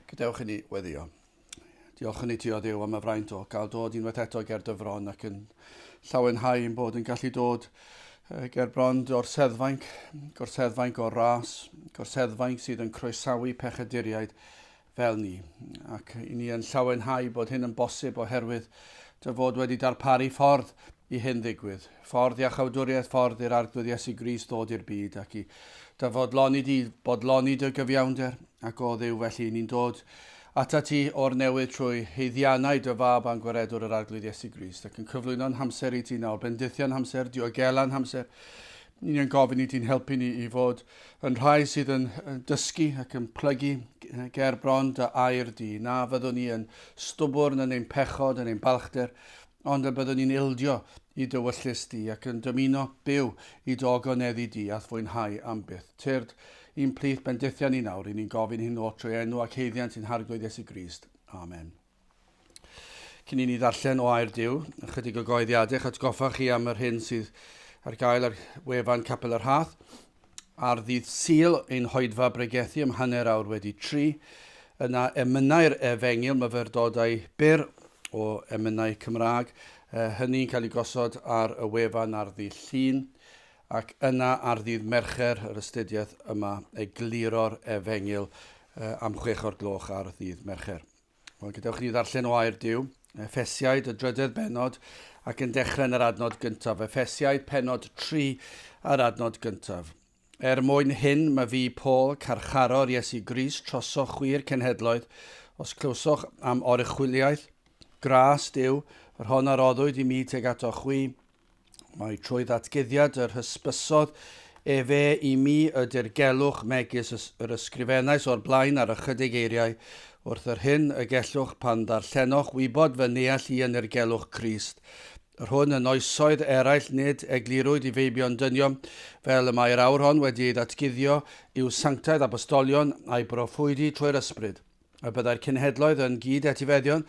Gadewch i ni weddio. Diolch yn ei ti o ddew am y fraint o gael dod unwaith eto ger dyfron ac yn llawenhau yn bod yn gallu dod ger brond o'r seddfainc, gorseddfainc o'r ras, gorseddfainc sydd yn croesawu pechaduriaid fel ni, ac i ni yn llawenhau bod hyn yn bosib oherwydd dy fod wedi darparu ffordd i hyn ddigwydd, ffordd iachawdwriaeth, ffordd i'r Arglwydd Iesu Gris ddod i'r byd ac i dy fodloni di, bodloni dy gyfiawnder, ac o ddew felly ni'n dod ata ti o'r newydd trwy heiddiannau dy fab a'n gwaredwr yr Arglwydd Iesu Gris, ac yn cyflwyno'n hamser i ti nawr, bendithion hamser, diogelan hamser, Ni yn gofyn i ti'n helpu ni i fod yn rhai sydd yn dysgu ac yn plygu ger bron dy air di. Na fyddwn ni yn stwbwrn yn ein pechod, yn ein balchder, ond y byddwn ni'n ildio i dywyllus di ac yn dymuno byw i do goneddi di a'th fwynhau am byth. Tyrd i'n plith bendithion ni nawr, ry'n ni'n gofyn hyn oll trwy enw ac haeddiant sy'n harglwydd Iesu Grist. Amen. Cyn i ni ddarllen o air Duw, ychydig o goeddiadau eich atgoffa chi am yr hyn sydd ar gael ar wefan Capel yr Hath. Ar ddydd Sul, ein hoedfa bregethu am hanner awr wedi tri. Yna emynau'r efengyl myfyrdodau byr o emynau Cymraeg. E, hynny'n cael ei gosod ar y wefan ar ddydd Llun ac yna ar ddydd Mercher yr astudiaeth yma egluro'r efengyl e, am chwech o'r gloch ar ddydd Mercher. Wel, gadewch ni ddarllen o air Dyw, Efesiaid, y drydedd benod, ac yn dechrau yn yr adnod gyntaf. Efesiaid, penod 3, a'r adnod gyntaf. Er mwyn hyn, mae fi, Paul, carcharor Iesu Gris, trosoch chwi'r cenhedloedd, os clywsoch am oruchwyliaeth, gras Dyw, yr hon a roddwyd i mi teg ato chwi, Mae trwy ddatguddiad yr hysbysodd efe i mi y dirgelwch megis yr ysgrifennais o'r blaen ar ychydig eiriau wrth yr hyn y gellwch pan ddarllenoch wybod fy neall i yn irgelwch Crist. Yr hwn yn oesoedd eraill nid eglurwyd i feibion dynion, fel y mae'r awr hon wedi ei ddatguddio, yw sanctaidd apostolion a'i broffwydi trwy'r ysbryd. Y byddai'r cenhedloedd yn gyd-etifeddion,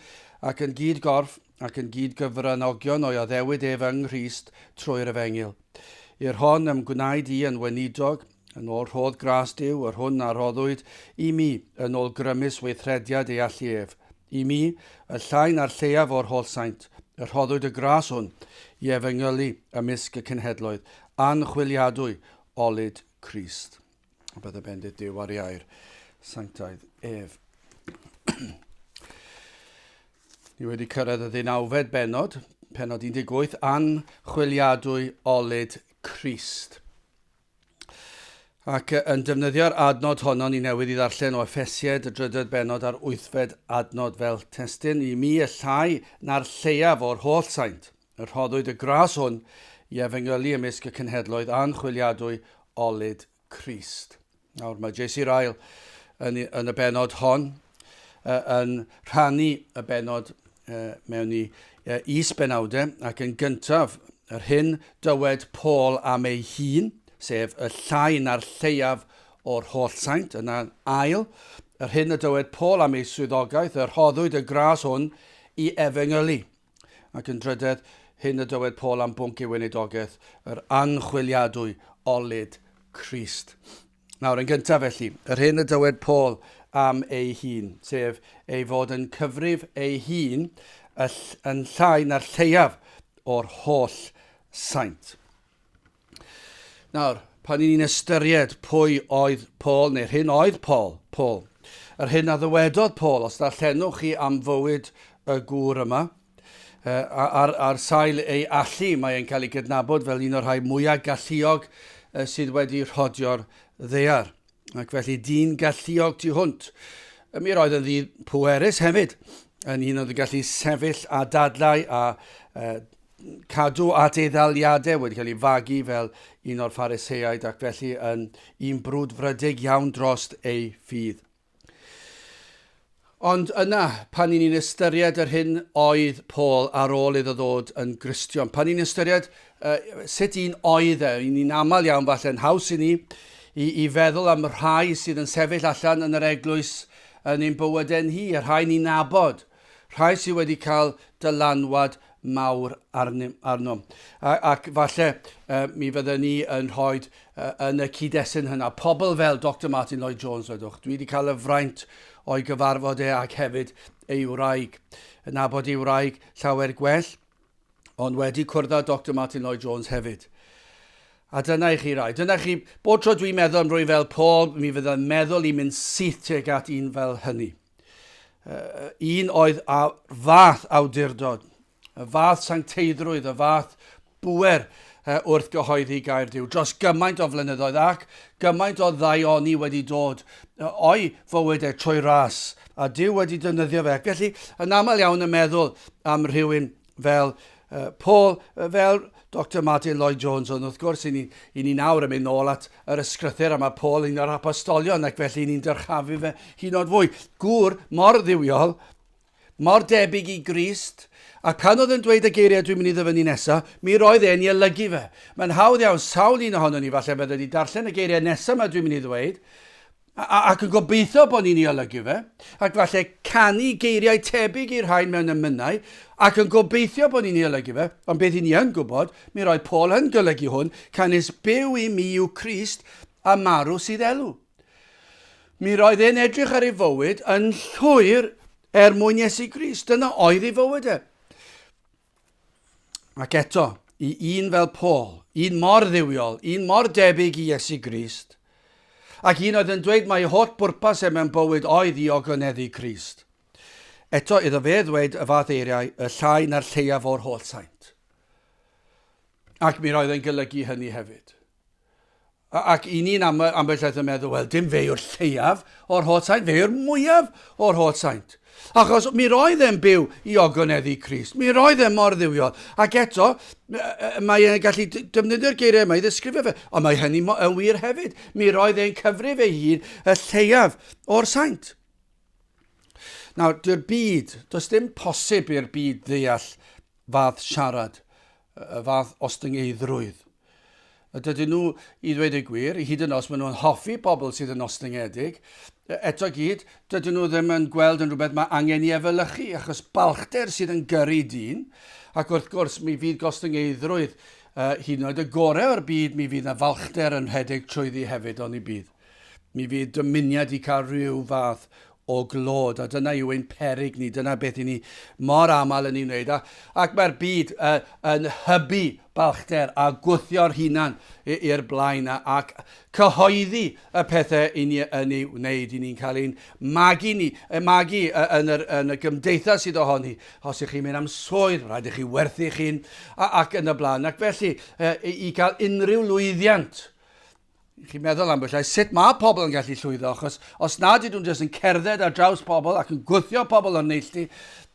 ac yn gyd-gorff, ac yn gyd-gyfranogion o'i addewid ef yng Nghrist trwy'r efengyl. I'r hon ym gwnaed i yn weinidog, yn ôl rhodd gras Duw, yr hwn a rhoddwyd i mi, yn ôl grymus weithrediad ei allu ef. I mi, y llain a'r lleiaf o'r holl saint, y rhoddwyd y gras hwn, i efengylu ymysg y cenhedloedd, anchwiliadwy olud Crist. Bydd y bendit Duw ar iau'r sanctaidd ef. Ni wedi cyrraedd y ddeunawfed benod, penod 18, anchwiliadwy olyd Christ. Ac yn defnyddio'r adnod honno, ni newydd i ddarllen o Efesied, y drydedd benod a'r wythfed adnod fel testyn i mi y llai na'r lleiaf o'r holl saint. Rhoddwyd y gras hwn i efengylu ymysg y cenhedloedd anchwiliadwy olud Crist. Nawr, mae J.C. Ryle yn, yn y benod hon uh, yn rhannu y benod uh, mewn i uh, is benawdau ac yn gyntaf yr hyn dywed Paul am ei hun, sef y llai na'r lleiaf o'r holl saint, yna'n ail, yr hyn y dywed Paul am ei swyddogaeth, yr hoddwyd y gras hwn i efengylu. Ac yn drydedd, hyn y dywed Paul am bwnc ei weinidogaeth, yr anchwiliadwy olud Crist. Nawr, yn gyntaf felly, yr hyn y dywed Paul am ei hun, sef ei fod yn cyfrif ei hun yn llai na'r lleiaf o'r holl saint. Nawr, pan ni'n ystyried pwy oedd Paul, neu'r hyn oedd Paul, Paul, yr hyn a ddywedodd Paul, os darllenwch chi am fywyd y gŵr yma, ar, ar sail ei allu, mae e'n cael ei gydnabod fel un o'r rhai mwyaf galluog sydd wedi rhodio'r ddear. Ac felly dyn galluog tu hwnt. Mi roedd yn ddydd pwerus hefyd, yn un oedd yn gallu sefyll a dadlau a uh, cadw at ei ddaliadau wedi cael ei fagu fel un o'r phariseaid ac felly yn un brwd frydeg iawn drost ei ffydd. Ond yna, pan i ni'n ystyried yr hyn oedd Paul ar ôl iddo ddod yn Gristion, pan i ni'n ystyried uh, sut un oedd e, i ni'n aml iawn falle yn haws i ni i, i feddwl am y rhai sydd yn sefyll allan yn yr eglwys yn ein bywydau ni, y rhai ni'n nabod, rhai sydd wedi cael dylanwad mawr arnyn, arnom. A, ac falle uh, mi fydden ni yn rhoi uh, yn y cyd-destun hynna pobl fel Dr Martin Lloyd Jones, wedwch. Dwi wedi cael y fraint o'i gyfarfod e ac hefyd ei wraig. Yn abod ei wraig llawer gwell, ond wedi cwrdd â Dr Martin Lloyd Jones hefyd. A dyna i chi rai. Dyna chi, bod tro dwi'n meddwl am rwy fel Paul, mi fydda'n meddwl i mynd syth tuag at un fel hynny. un oedd a fath awdurdod, y fath sancteiddrwydd, y fath bwer wrth gyhoeddi gair Dyw dros gymaint o flynyddoedd ac gymaint o ddaioni wedi dod o'i fywyd e trwy ras a Dyw wedi defnyddio fe. Felly, yn aml iawn yn meddwl am rhywun fel uh, Paul, uh, fel Dr Martin Lloyd Jones, ond wrth gwrs, i ni, i ni nawr yn mynd nôl at yr ysgrythyr a mae Paul un o'r apostolion, ac felly ni'n dyrchafu fe hyn o'r fwy. Gŵr mor ddiwiol, mor debyg i Grist, a pan oedd yn dweud y geiriau dwi'n mynd i ddyfynnu nesaf, mi roedd e'n ei olygu fe. Mae'n hawdd iawn, sawl un ohono ni falle fydde wedi darllen y geiriau nesaf mae dwi'n mynd i ddweud, Ac yn gobeithio bod ni'n ei olygu fe, ac falle canu geiriau tebyg i'r rhain mewn emynau, ac yn gobeithio bod ni'n ei olygu fe, ond beth i ni yn gwybod, mi roedd Paul yn golygu hwn, canys byw i mi yw Crist, a marw sydd elw. Mi roedd e'n edrych ar ei fywyd yn llwyr er mwyn Iesu Grist, dyna oedd ei fywyd e. Ac eto, i un fel Paul, un mor ddiwiol, un mor debyg i Iesu Grist, ac un oedd yn dweud mai holl bwrpas e mewn bywyd oedd i ogoneddau Crist. Eto, iddo fe ddweud y fath eiriau, y llai na'r lleiaf o'r holl saint. Ac mi roedd yn golygu hynny hefyd. Ac i ni yn aml, ambell waith yn meddwl, wel, dim fe yw'r lleiaf o'r holl saint, fe yw'r mwyaf o'r holl saint. Achos mi roedd e'n byw i ogoneddu Crist. Mi roedd e mor ddiwiol. Ac eto, mae e'n gallu defnyddio'r geiriau yma i ddesgrifio fe. Ond mae hynny yn wir hefyd. Mi roedd e'n cyfrif ei hun y lleiaf o'r saint. Nawr, dyw'r byd, does dim posib i'r byd ddeall fath siarad, y fath ostyngeiddrwydd. A dydyn nhw, i ddweud y gwir, hyd yn os maen nhw'n hoffi pobl sydd yn ostyngedig, eto gyd, dydyn nhw ddim yn gweld yn rhywbeth mae angen i efelychu, achos balchder sydd yn gyrru dyn, ac wrth gwrs mi fydd gostyngeiddrwydd uh, hyd yn oed y gorau o'r byd, mi fydd na falchder yn rhedeg trwyddi hefyd, ond ni bydd. Mi fydd dymuniad i cael rhyw fath o glod, a dyna yw ein peryg ni, dyna beth i ni mor aml yn ei wneud, a, ac mae'r byd uh, yn hybu balchder a gwthio'r hunan i'r blaen, a, ac cyhoeddi y pethau i ni yn ei wneud, i ni'n cael ein magu ni, ein magu yn, yr, yn y gymdeithas sydd ohoni, os ych chi'n mynd am swydd, rhaid i chi werthu chi'n, ac yn y blaen, ac felly uh, i gael unrhyw lwyddiant, chi'n meddwl am bwysau, sut mae pobl yn gallu llwyddo, achos os nad ydyn nhw'n jyst yn cerdded ar draws pobl ac yn gwthio pobl o'n neilltu,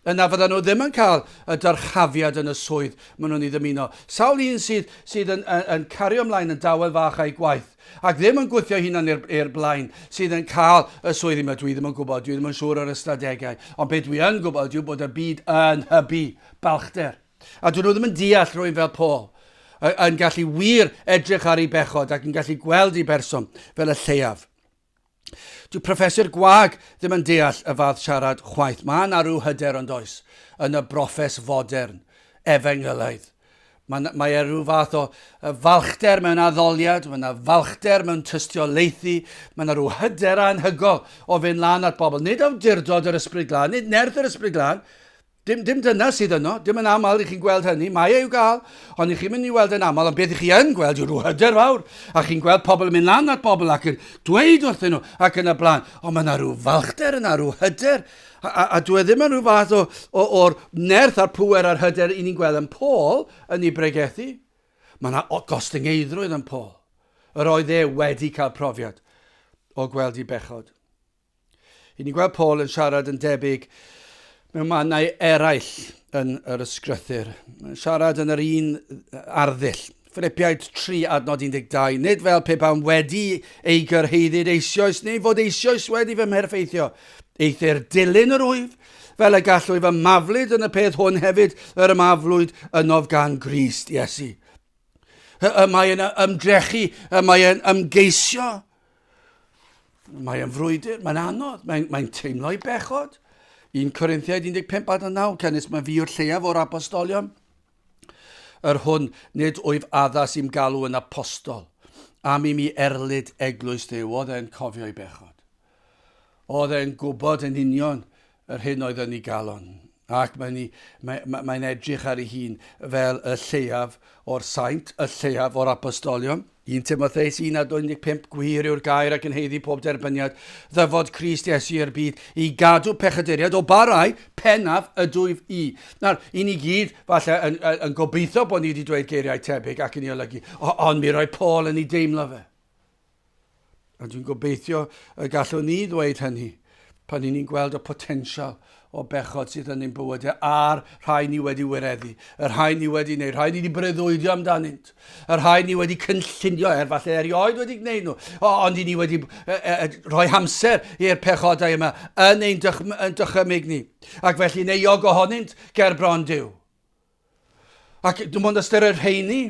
yna fydden nhw ddim yn cael y dyrchafiad yn y swydd maen nhw'n ei ddymuno. Sawl un sydd, sydd yn, yn, yn cario ymlaen yn dawel fach a'i gwaith, ac ddim yn gwythio hunan i'r blaen, sydd yn cael y swydd yma. Dwi ddim yn gwybod, dwi ddim yn siŵr o'r ystadegau, ond beth dwi yn gwybod yw bod y byd yn hybu balchder. A dyn nhw ddim yn deall rwy'n fel Paul, yn gallu wir edrych ar ei bechod ac yn gallu gweld ei berson fel y lleiaf. Dyw profeswyr gwag ddim yn deall y fath siarad chwaith. Mae yna rhyw hyder ond oes yn y brofes fodern, efengylaidd. Mae, mae e rhyw fath o falchder mewn addoliad, mae yna falchder mewn tystiolaethu, mae yna rhyw hyder anhygol o fynd lan at bobl. Nid awdurdod yr ysbryd glân, nid nerth yr ysbryd glân, Dim, dim dyna sydd yno. Dim yn aml i chi'n gweld hynny. Mae e i'w gael, ond i chi'n mynd i weld yn aml. Ond beth i chi yn gweld yw rhyw hyder fawr. A chi'n gweld pobl yn mynd lan at bobl ac yn dweud wrthyn nhw ac yn y blaen. Ond mae yna rhyw falchder yna, rhyw hyder. A, a, a dwi e ddim yn rhyw fath o, o, o'r nerth a'r pŵer a'r hyder i ni'n gweld yn Paul yn ei bregethu. Mae yna gostyngeiddrwydd yn Paul. Yr oedd e wedi cael profiad o gweld i bechod. Ry'n ni'n gweld Paul yn siarad yn debyg mewn mannau eraill yn yr ysgrythyr. Mae'n siarad yn yr un arddull. Ffilipiaid 3 adnod 12, nid fel pe bawn wedi ei gyrhaeddyd eisioes neu fod eisioes wedi fy mherffeithio. Eithr dilyn yr wyf, fel y gallwy fy maflyd yn y peth hwn hefyd, yr ymaflwyd ynof gan Grist Iesu. Y mae yn ymdrechu, y mae yn ymgeisio, Mae yn frwydr, mae'n anodd, mae'n mae teimlo i bechod. 1 Corinthiaid 15 ad 9, canys mae fi o'r lleiaf o'r apostolion. Yr hwn, nid wyf addas i'm galw yn apostol. Am i mi erlid eglwys ddew, oedd e'n cofio i bechod. Oedd e'n gwybod yn union yr hyn oedd yn ei galon, ac mae'n ei, mae, mae, mae'n edrych ar ei hun fel y lleiaf o'r saint, y lleiaf o'r apostolion. 1 Timotheus 1 a 25, gwir yw'r gair ac yn heiddi pob derbyniad, ddyfod Christ Iesu i'r byd, i gadw pechaduriaid o barau pennaf y dwyf i. Nawr, i ni gyd, falle, yn, yn, yn gobeithio bod ni wedi dweud geiriau tebyg ac yn ei olygu, ond mi roi Paul yn ei deimlo fe. A dwi'n gobeithio y gallwn ni ddweud hynny pan ni'n ni'n gweld y potensial o bechod sydd yn ein bywydau a'r rhai ni wedi wireddu, y rhai ni wedi neu rhai ni wedi breuddwydio amdanynt, y rhai ni wedi cynllunio er falle erioed wedi gwneud nhw, o, ond i ni wedi e, e, e, rhoi hamser i'r pechodau yma yn ein dychymyg ni, ac felly'n euog ohonynt ger bron Dyw. Ac dim ond ystyried rheini,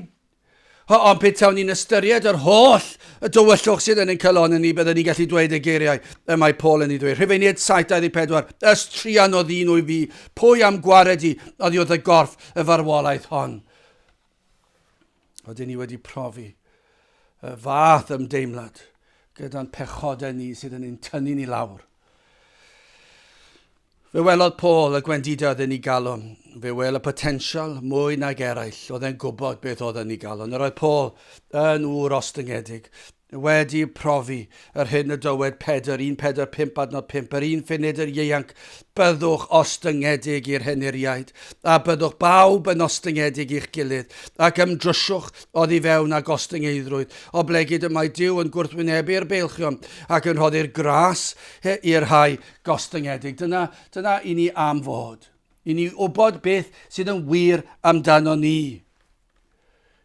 ond petawn ni'n ystyried yr holl y dywyllwch sydd yn ein calon yn ni, byddwn ni'n gallu dweud y geiriau y mae Paul yn ei ddweud. Rhufeiniaid 7.24, Ys trian oedd un o'i fi, pwy am gwared i, oddi wrth y gorff y farwolaeth hon. Oedden ni wedi profi y fath ymdeimlad gyda'n pechodau ni sydd yn ein tynnu ni lawr. Fe welodd Paul y gwendidau oedd yn ei galon. Fe wel y potensial mwy nag eraill oedd e'n gwybod beth oedd yn ei galon. Yr oedd Paul yn ŵr ostyngedig. Wedi profi yr hyn y dywed Pedr 1:45 adnod 5, yr un funud yr ieuanc, byddwch ostyngedig i'r henuriaid, a byddwch bawb yn ostyngedig i'ch gilydd, ac ymdryswch oddi fewn â gostyngeiddrwydd, oblegid y mae Duw yn gwrthwynebu'r beilchion, ac yn rhoddi'r gras i'r rhai gostyngedig. Dyna, dyna i ni am fod. I ni wybod beth sydd yn wir amdano ni.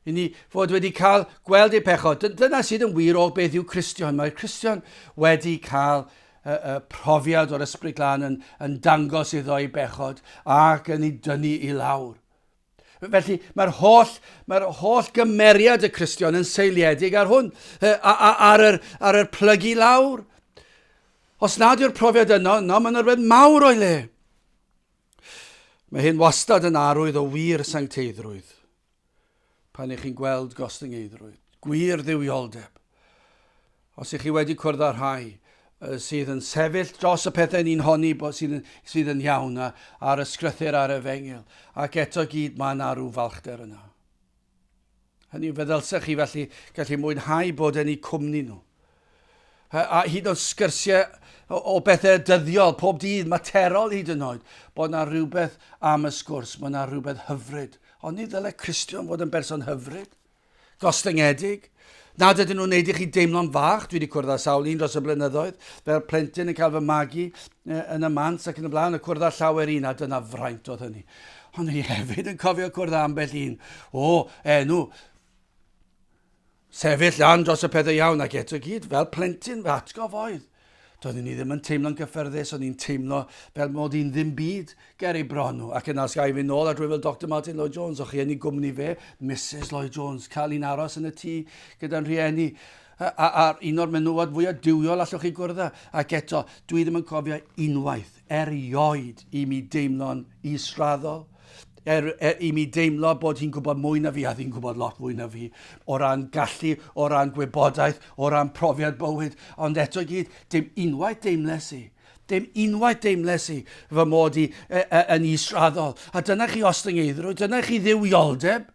I ni fod wedi cael gweld ei pechod. Dyna sydd yn wir o beth yw Cristion. Mae'r Cristion wedi cael y, y profiad o'r Ysbryd Glân yn, yn dangos iddo ei bechod ac yn ei dynnu i lawr. Felly mae'r holl, mae'r holl gymeriad y Cristion yn seiliedig ar hwn, ar yr, ar yr plygu lawr. Os nad yw'r profiad yno, yno mae'n rhywbeth mawr o'i le. Mae hyn wastad yn arwydd o wir sancteiddrwydd, pan ych chi'n gweld gostyngeiddrwydd, gwir dduwioldeb. Os ych chi wedi cwrdd â rhai sydd yn sefyll dros y pethau ni'n honni bod sydd, sydd yn iawn a, ar y sgrythyr ar y fengil, ac eto gyd mae yna rhyw falchder yna. Hynny yw, fe ddylsech chi felly gallu mwynhau bod yn eu cwmni nhw. A hyd yn oed sgyrsiau o, o bethau dyddiol, pob dydd, materol hyd yn oed, bod yna rhywbeth am y sgwrs, mae yna rhywbeth hyfryd. Ond ni ddylai Cristion fod yn berson hyfryd, gostyngedig, Nad ydyn nhw'n neud i chi deimlo'n fach, dwi 'di cwrdd â sawl un dros y blynyddoedd, fel plentyn yn cael fy magu yn y Mant ac yn y blaen, a cwrdd â llawer un, a dyna fraint oedd hynny. Ond ni hefyd yn cofio cwrdd â ambell un o enw sefyll lan dros y pethau iawn ac eto gyd, fel plentyn fy atgof oedd. Doeddwn i ddim yn teimlo'n gyffyrddus, o'n i'n teimlo fel mod i'n ddim byd ger ei bron nhw. Ac yna os gai fynd nôl at rywun fel Doctor Martyn Lloyd Jones, o'ch chi yn ei gwmni fe, Misus Lloyd Jones, cael un aros yn y tŷ gyda'n rhieni, a, a, a un o'r menywod fwyaf duwiol allwch chi gwrdd â. Ac eto, dwi ddim yn cofio unwaith, erioed i mi deimlo'n israddol, er, er i mi deimlo bod hi'n gwybod mwy na fi a fi'n gwybod lot mwy na fi o ran gallu, o ran gwybodaeth, o ran profiad bywyd, ond eto gyd, dim unwaith deimles i. Dim unwaith deimles i fy mod i e, e, yn israddol. A dyna chi ostyngeiddrwydd, dyna chi ddiwioldeb.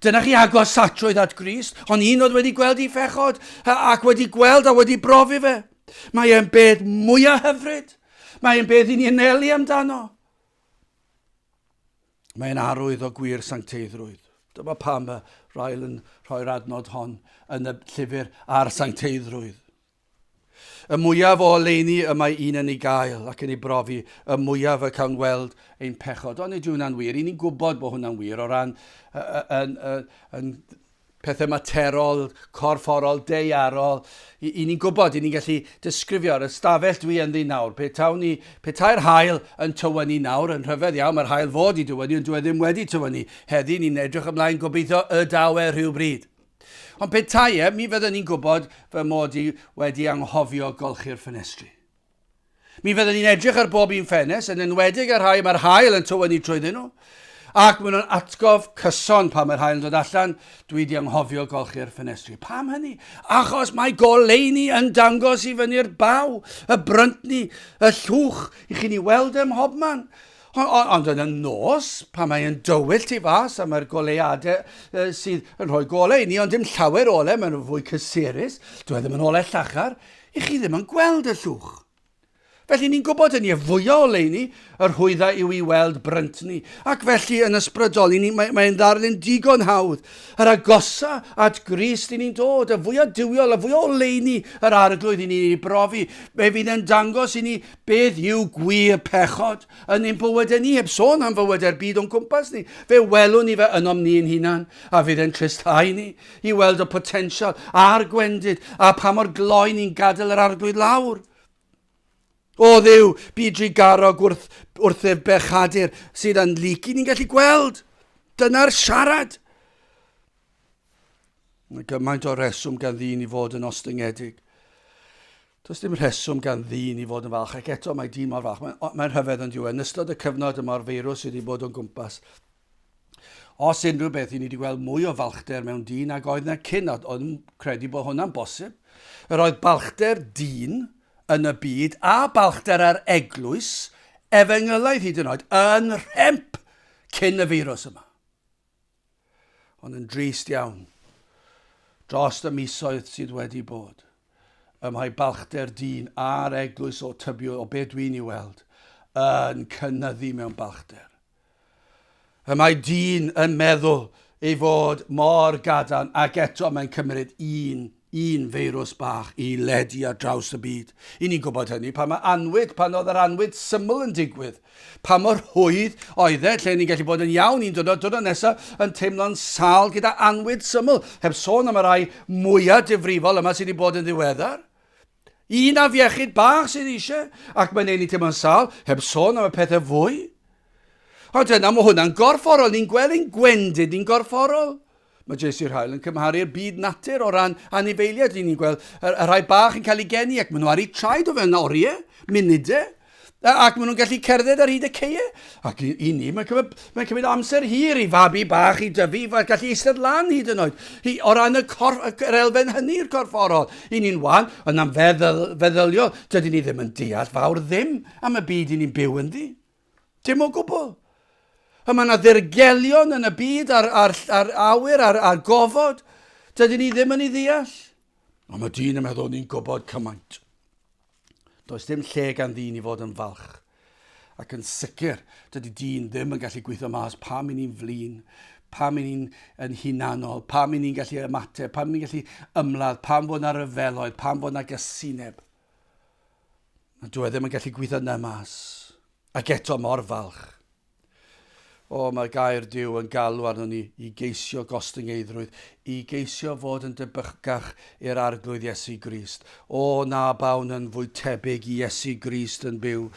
Dyna chi agos satrwydd at Gris, ond un oedd wedi gweld i fechod ac wedi gweld a wedi brofi fe. Mae e'n beth mwyaf hyfryd. Mae e'n beth i ni anelu amdano. Mae'n arwydd o gwir sancteiddrwydd. Dyma pam y Rael yn rhoi'r adnod hon yn y llyfr ar sancteiddrwydd. Y mwyaf o oleuni y mae un yn ei gael ac yn ei brofi, y mwyaf y cawn weld ein pechod. Ond nid yw hwnna'n wir. Ry'n ni'n gwybod bod hwnna'n wir o ran yn, yn, yn, yn pethau materol, corfforol, deiarol, i, i ni'n gwybod, i ni'n gallu disgrifio ar y stafell dwi ynddi nawr. Pe tawn ni, pe tau'r hael yn tywynu nawr, yn rhyfedd iawn, mae'r hael fod i dywynu, ond dwi e ddim wedi tywynu. Heddi, ni'n edrych ymlaen gobeithio y daw e rhywbryd. Ond pe tai e, mi fyddwn ni'n gwybod fy mod i wedi anghofio golchi'r ffenestri. Mi fydden ni'n edrych ar bob un ffenest, yn enwedig ar rhai mae'r hael yn tywynnu trwyddyn nhw, ac maen nhw'n atgof cyson pan mae'r hael yn dod allan, dwi di anghofio golchi'r ffenestri. Pam hynny? Achos mae goleuni yn dangos i fyny'r baw, y bryntni, y llwch, i chi'n ei weld ym mhob man. Ond yn y nos, pan mae'n dywyll tu fas a mae'r goleuadau uh, sydd yn rhoi golau i ni, ond dim llawer ole, maen nhw fwy cysurus, dwi e ddim yn ole llachar, I chi ddim yn gweld y llwch. Felly ni'n gwybod yn ie fwyaf o leini y rhwyddau yw i weld brynt ni, ac felly yn ysbrydol i ni, mae'n mae ddarlun digon hawdd. Yr agosa at Grist i ni'n dod, y fwyaf diwiol, y fwyaf o leini yr arglwydd i ni'n ei brofi, fe fydd yn dangos i ni beth yw gwir pechod yn ein bywydau ni, heb sôn am fywydau'r byd o'n cwmpas ni. Fe welwn ni fe ynom ni'n hunan, a fydd e'n tristhau ni. I weld y potensial a'r gwendid a pa mor gloi ni'n gadael yr Arglwydd lawr. O ddiw, bu drugarog wrth, wrthef bechadur sydd yn lygu ni'n gallu gweld. Dyna'r siarad. Mae gymaint o reswm gan ddyn i fod yn ostyngedig. Does dim rheswm gan ddyn i fod yn falch ac eto mae dyn mor falch. Mae'n, mae'n rhyfedd yn diwedd. Yn ystod y cyfnod y mae'r feirws sydd wedi bod o'n gwmpas. Os unrhyw beth, i ni wedi gweld mwy o falchder mewn dyn ag oedd na cyn, a oedd yn credu bod hwnna'n bosib. Yr oedd balchder dyn yn y byd a balchder ar eglwys, efengylaidd hyd yn oed, yn rhemp cyn y feirws yma. Ond yn drist iawn, dros y misoedd sydd wedi bod, ym mae balchder dyn a'r eglwys o tybiod o be dwi'n ei weld, yn cynyddu mewn balchder. Y mae dyn yn meddwl ei fod mor gadarn ac eto mae'n cymryd un un feirws bach i ledu ar draws y byd. I ni'n gwybod hynny pan mae anwyd, pan oedd yr anwyd syml yn digwydd. Pa mor rhwydd oedd e, lle ni'n gallu bod yn iawn un diwrnod, diwrnod nesaf yn teimlo'n sal gyda anwyd syml, heb sôn am y rai mwyaf difrifol yma sydd wedi bod yn ddiweddar. Un afiechyd bach sydd eisiau, ac mae'n ei ni teimlo'n sal, heb sôn am y pethau fwy. Ond yna mae hwnna'n gorfforol, ni'n gweld ein gwendid ni'n gorfforol. Mae JC Rhael yn cymharu'r byd natur o ran anifeiliaid, ni'n gweld y, y rhai bach yn cael ei geni ac maen nhw ar eu traed o fewn oriau, munudau, Ac maen nhw'n gallu cerdded ar hyd y ceie. Ac i, i ni, mae'n cymryd, mae cymryd amser hir i fabi bach i dyfu, i gallu eistedd lan hyd yn oed. I, o ran y cor, yr elfen hynny i'r corfforol, i ni'n wan, yn am feddwl, feddyliol, dydy ni ddim yn deall fawr ddim am y byd i ni'n byw ynddi. Dim o gwbl. A mae yna ddirgelion yn y byd a'r, ar, ar awyr a'r, ar gofod. Dydy ni ddim yn ei ddeall. Ond mae dyn yn meddwl ni'n gwybod cymaint. Does dim lle gan ddyn i fod yn falch. Ac yn sicr, dydy dyn ddim yn gallu gweithio mas pam i ni'n flin, pam i ni'n yn hunanol, pam i ni'n gallu ymateb, pam i ni'n gallu ymladd, pam fod na ryfeloedd, pam fod na gysineb. Mae dwi e ddim yn gallu gweithio na mas. Ac eto mor falch. O, mae gair Duw yn galw arnon ni i geisio gostyngeiddrwydd, i geisio fod yn debycach i'r Arglwydd Iesu Grist. O, na bawn yn fwy tebyg i Iesu Grist yn byw,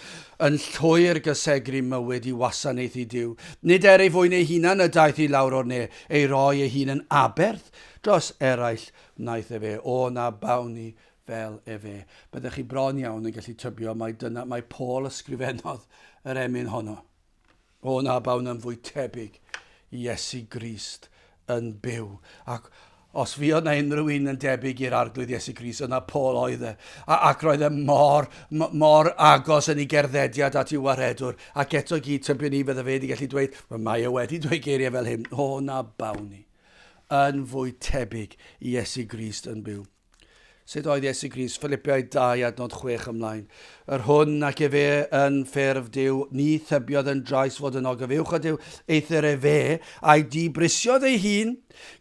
yn llwyr gysegru mywyd i wasanaethu Duw. Nid er ei fwyn ei hunan y daeth i lawr o'r ne, ei roi ei hun yn aberth dros eraill wnaeth e fe. O, na bawn ni fel efe, byddech chi bron iawn yn gallu tybio mai dyna mai Paul ysgrifennodd yr emyn honno. O na, bawn yn fwy tebyg i Iesu Grist yn byw. Ac os fuodd na unrhyw un yn debyg i'r Arglwydd Iesu Grist, yna Paul oedd e. A, ac roedd e mor, mor agos yn ei gerddediad at i'w waredwr. Ac eto gyd tybio ni fydde fe wedi gallu dweud, mae e wedi dweud geiriau fel hyn, o na bawn ni yn fwy tebyg i Iesu Grist yn byw. Sut oedd Iesu Grist? Ffilipiaid 2 adnod 6 ymlaen. Yr hwn ac efe yn ffurf Dyw, ni thybiodd yn drais fod yn ogof uwch o Dyw, eithr efe a'i dibrisiodd ei hun,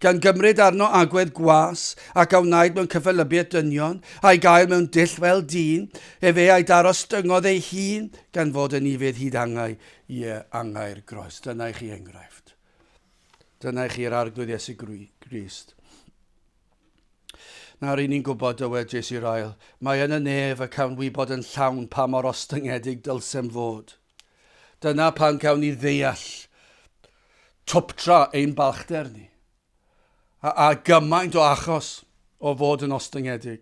gan gymryd arno agwedd gwas, ac a wnaed mewn cyffelybiaeth dynion, a'i gael mewn dull fel dyn, efe a'i darostyngodd ei hun, gan fod yn ifydd hyd angau, ie, angau'r groes. Dyna i chi enghraifft. Dyna i chi'r arglwydd Iesu Grist. Na, ry'n ni'n gwybod, dywed Jes i'r ail. Mae yn y nef y cawn wybod yn llawn pa mor ostyngedig dylsem fod. Dyna pan cawn ni ddeall twptra ein balchder ni, a, a gymaint o achos o fod yn ostyngedig.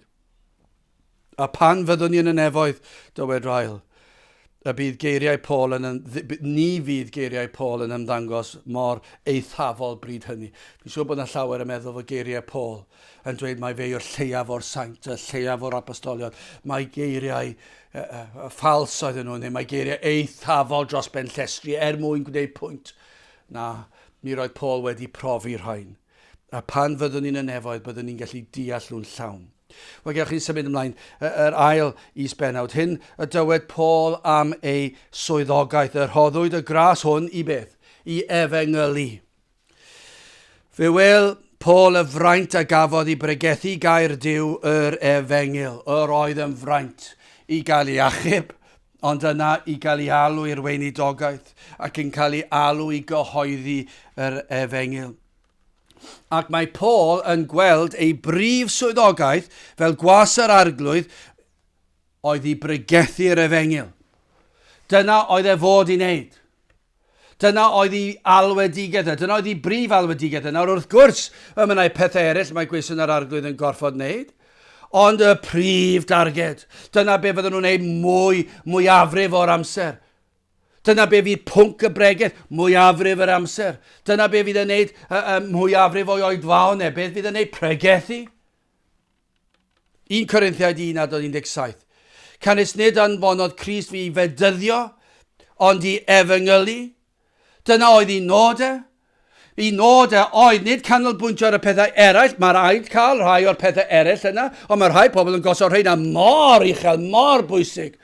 A phan fyddwn ni yn y nefoedd, dywed Ryle, y bydd geiriau Paul yn, ni fydd geiriau Paul yn ymddangos mor eithafol bryd hynny. Fi'n siŵr bod yna llawer yn meddwl fod geiriau Paul yn dweud mae fe yw'r lleiaf o'r saint, y lleiaf o'r apostolion. Mae geiriau uh, uh, ffals oedden nhw, neu mae geiriau eithafol dros ben llestri er mwyn gwneud pwynt. Na, mi roedd Paul wedi profi rhain. A pan fyddwn ni'n y nefoedd, byddwn ni'n gallu deall nhw'n llawn. Wel, gewch chi symud ymlaen. Yr ail is-bennawd, hyn y dywed Paul am ei swyddogaeth, y rhoddwyd y gras hwn i beth? I efengylu. Fe wel, Paul y fraint a gafodd i bregethu gair Dyw yr efengyl. Yr oedd yn fraint i gael ei achub, ond yna i gael ei alw i'r weinidogaeth ac yn cael ei alw i gyhoeddi yr efengyl. Ac mae Paul yn gweld ei brif swyddogaeth fel gwas yr Arglwydd oedd i bregethu'r efengyl. Dyna oedd e fod i wneud. Dyna oedd ei alwedigaeth e. Dyna oedd ei brif alwedigaeth e. Nawr wrth gwrs, y mynnau pethau eraill mae gweision yr Arglwydd yn gorfod wneud. Ond y prif darged, dyna be fydden nhw'n wneud mwy, mwyafrif o'r amser. Dyna be fydd pwnc y bregeth mwyafrif yr amser. Dyna be fydd yn neud y, y mwyafrif o'i oedfaon e. Beth fydd yn neud pregethu? 1 Corinthiaid 1 adod 17. Canys nid anfonodd Christ fi i fedyddio, ond i efengylu. Dyna oedd un nod e, Y nod a oedd nid canolbwyntio ar y pethau eraill, mae rhaid cael rhai o'r pethau eraill yna, ond mae rhai pobl yn gosod rheina mor uchel, mor bwysig.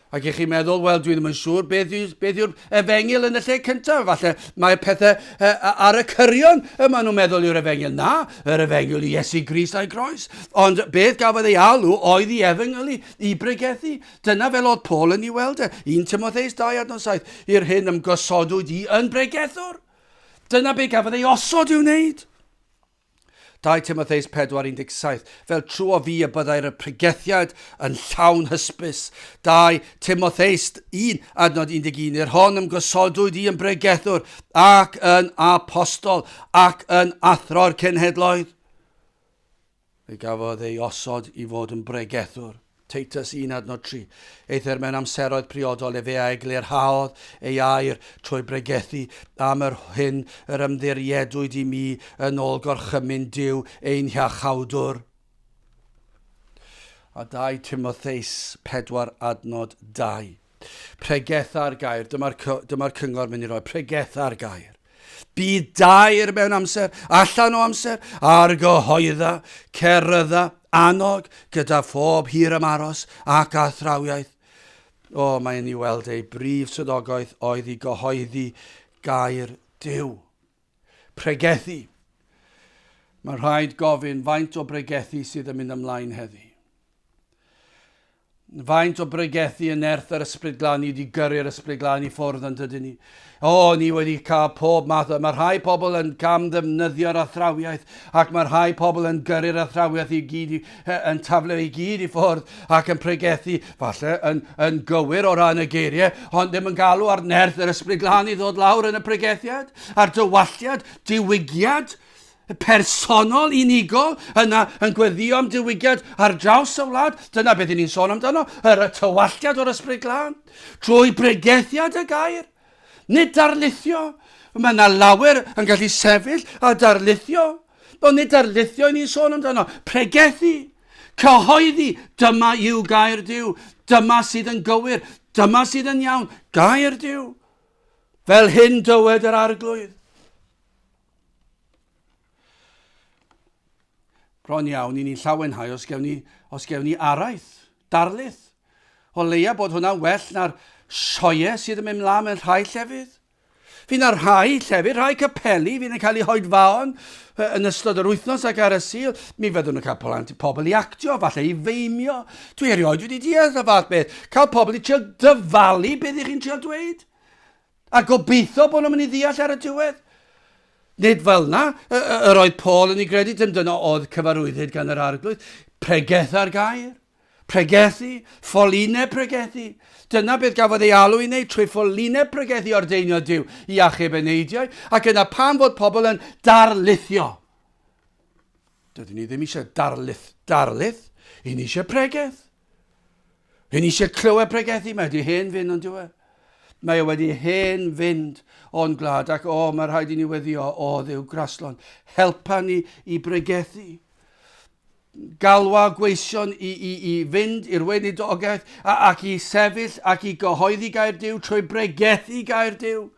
Ac i chi meddwl, wel, dwi ddim yn siŵr beth, yw, beth yw'r efengyl yn y lle cyntaf. Falle mae pethau e, ar y cyrion y maen nhw'n meddwl yw'r efengyl. Na, yr efengyl i Iesu Grist a'i groes. Ond beth gafodd ei alw oedd i efengyl i, i bregethu. Dyna fel oedd Paul yn ei weld e, 1 Timotheus 2 adnod 7, i'r hyn ymgosodwyd i yn bregethwr. Dyna be gafodd ei osod i'w wneud. 2 Timotheus 4.17 Fel trw o fi y byddai'r y pregethiad yn llawn hysbys. 2 Timotheus 1 adnod 11 I'r hon ymgosodwyd i yn bregethwr ac yn apostol ac yn athro'r cenhedloedd. Fe gafodd ei osod i fod yn bregethwr. Titus un adnod tri. Eithr mewn amseroedd priodol efe a eglurhaodd ei air trwy bregethu am yr hyn yr ymddiriedwyd i mi yn ol gorchymyn Duw ein Hiachawdwr. A 2 Timotheus pedwar adnod dau. Pregeth ar gair. Dyma'r dyma cyngor mynd i roi. Pregeth ar gair. Bydd dair mewn amser, allan o amser, ar gyhoedda, cerydda, annog gyda phob hir am aros ac athrawiaeth. O, oh, mae'n i weld ei brif swyddogaeth oedd i gyhoeddi gair Dyw. Pregethu. Mae rhaid gofyn faint o bregethu sydd yn mynd ymlaen heddi. Faint o bregethu yn nerth yr Ysbryd Glân ni wedi gyrru'r Ysbryd Glân i ffwrdd yn dydyn ni? O, ni wedi cael pob math o... Mae rhai pobl yn cam ddefnyddio'r athrawiaeth ac mae rhai pobl yn gyrru'r athrawiaeth i gyd, yn taflu i gyd i ffwrdd ac yn pregethu, falle yn, yn gywir o ran y geiriau, ond ddim yn galw ar nerth yr Ysbryd Glân i ddod lawr yn y pregethiad, a'r dywalliad, diwygiad, personol unigol yna yn gweddio am diwygiad ar draws y wlad. Dyna beth ni'n sôn amdano, yr y tywalliad o'r ysbryd glân, trwy bregethiad y gair. Nid darlithio, mae yna lawer yn gallu sefyll a darlithio. Ond nid darlithio i ni'n sôn amdano, pregethu, cyhoeddi, dyma yw gair Dyw, dyma sydd yn gywir, dyma sydd yn iawn, gair Dyw. Fel hyn dywed yr arglwydd. Bron iawn i ni'n llawenhau os gewn ni, os gewn ni araith, darlith. O leia bod hwnna'n well na'r sioe sydd yn mynd mlaen mewn rhai llefydd. Fy na rhai llefydd, rhai capeli fydd yn cael eu hoedfaon yn ystod yr wythnos ac ar y sil, mi fyddwn yn cael plant i pobl i actio, falle i feimio. Dwi erioed wedi deall y fath beth. Cael pobl i trio dyfalu beth ych chi'n trio dweud. A gobeithio bod nhw'n mynd i ddeall ar y diwedd. Nid fel na, yr oedd Paul yn ei gredu, dim dyna oedd cyfarwyddyd gan yr arglwydd. Pregeth ar gair. Pregethu, ffolineb pregethu. Dyna beth gafodd ei alw i wneud trwy ffolineb pregethu ordeinio Dyw i achub y neidiau, ac yna pan fod pobl yn darlithio. Dydyn ni ddim eisiau darlith, darlith, i ni eisiau pregeth. Rwy'n eisiau clywed pregethu, mae wedi hen fynd, ond yw e? Mae e wedi hen fynd o'n gwlad, ac o, mae rhaid i ni weddio, o, ddew graslon, helpa ni i bregethu. Galwa gweision i, i, i fynd i'r weinidogaeth, ac i sefyll ac i gyhoeddi gair Dyw trwy bregethu gair Dyw.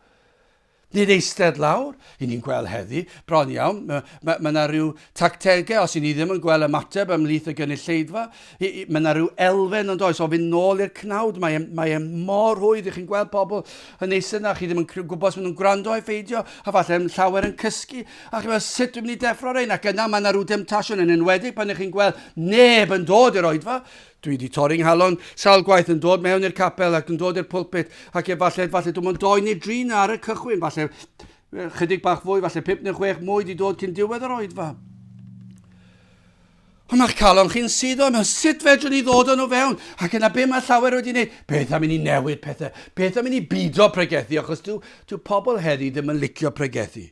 Nid eistedd lawr, i ni'n gweld heddi, bron iawn, mae yna ryw tactegau, os i ni ddim yn gweld ymateb ymhlith y gynulleidfa, mae yna ryw elfen yn does o fynd nôl i'r cnawd, mae e, mae e mor rhwydd i chi'n gweld pobl yn eistedd yna, chi ddim yn gwybod os maen nhw'n gwrando i ffeidio, a falle yn llawer yn cysgu, a chi'n meddwl sut dwi'n mynd i deffro rhain, ac yna mae yna ryw demtasiwn yn enwedig pan ych chi'n gweld neb yn dod i'r oedfa, Dwi 'di torri 'nghalon sawl gwaith yn dod mewn i'r capel ac yn dod i'r pulpit ac efallai, efallai dim ond doi neu dri 'na ar y cychwyn, falle chydig bach fwy, falle pip neu chwech mwy 'di dod cyn diwedd yr oedfa. Ond mae'ch calon chi'n suddo yno, sut fedrwn ni ddod yn o fewn? Ac yna be mae llawer wedi gwneud? Beth am i ni newid pethau? Beth am i ni bido pregethu? Achos dyw, dyw pobl heddi ddim yn licio pregethu.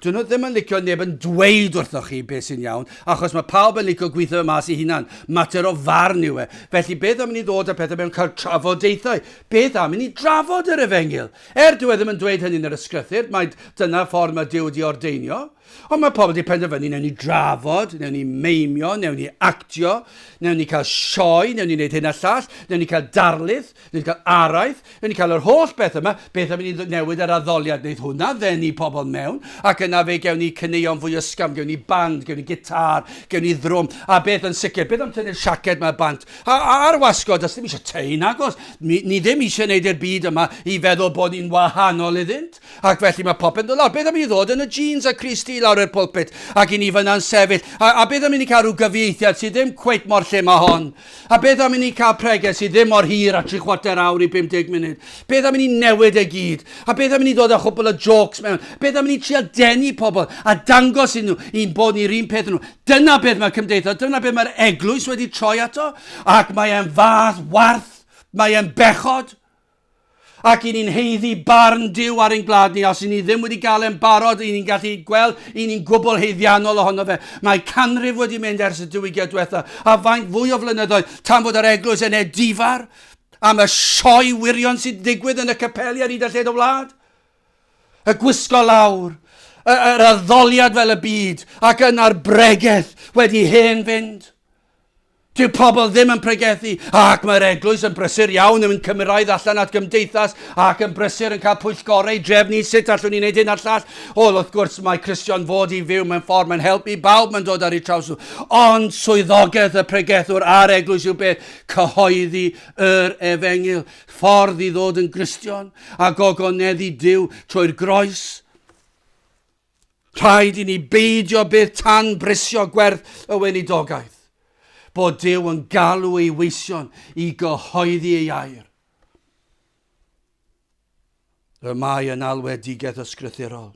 Dyn nhw ddim yn licio neb yn dweud wrthoch chi beth sy'n iawn, achos mae pawb yn licio gweithio fe mas i hunan. Mater o farn yw e. Felly beth am i ni ddod â pethau mewn cael trafodaethau? Beth am i ni drafod yr efengyl? Er dyw e ddim yn dweud hynny yn yr ysgrythyr, mae dyna ffordd mae Duw wedi ordeinio. Ond mae pobl wedi penderfynu, newn ni drafod, newn ni meimio, newn ni actio, newn ni cael sioe, newn ni wneud hyn a llall, newn ni cael darlith, Ni'n cael araith, rydyn ni'n cael yr holl beth yma, beth am i ni newid yr addoliad, wneud hwnna ddenu pobl mewn, ac yna fe gewn ni caneuon fwy ysgafn, gewn ni band, gewn ni gitar, gewn ni ddrwm, a beth yn sicr, beth am tynnu'r siaced yma bant, a, a ar wasgod, does ddim eisiau tei nagos, ni, ni ddim eisiau gwneud i'r byd yma i feddwl bod ni'n wahanol iddynt, ac felly mae popeth yn dod lawr, beth am i ni ddod yn y jeans a Chris T lawr i'r pulpit, ac i ni fyna'n sefyll, a, a beth am i ni cael rhyw gyfieithiad sydd ddim cweit mor lle mae hon, A beth am i ni cael preges sydd ddim mor hir a tri chwarter awr i 50 munud? Beth am i ni newid e gyd? A beth am i ni ddod â chwbl o jôcs mewn? Beth am i ni trial denu pobl a dangos iddyn nhw i'n bod ni'r un peth â nhw? Dyna beth mae cymdeithas, dyna beth mae'r eglwys wedi troi ato, ac mae e'n fath warth, mae e'n bechod. Ac i ni'n heiddi barn Duw ar ein gwlad ni, os i ni ddim wedi gael e'n barod, i ni'n gallu gweld i ni'n gwbl heiddiannol ohono fe. Mae canrif wedi mynd ers y diwygiad diwetha, a faint fwy o flynyddoedd tan bod yr eglwys yn edifar am y sioe wirion sy'n digwydd yn y capeli ar hyd a lled y wlad. Y gwisgo lawr, yr addoliad fel y byd, ac yna'r bregeth wedi hen fynd. Dyw pobl ddim yn pregethu ac mae'r eglwys yn brysur iawn yn mynd cymraidd allan at gymdeithas ac yn brysur yn cael pwyllgorau drefnu sut allwn ni wneud hyn a'r llall. Ol wrth gwrs mae Cristion fod i fyw mewn ffordd mae'n helpu bawb mae'n dod ar ei traws nhw. Ond swyddogaeth y pregethwr a'r eglwys yw beth? Cyhoeddi yr efengyl, ffordd i ddod yn Gristion a gogoneddu Dyw trwy'r groes. Rhaid i ni beidio byth tan brisio gwerth y weinidogaeth, bod Duw yn galw ei weision i gyhoeddi ei air. Y mae yn alwedigaeth ysgrythurol.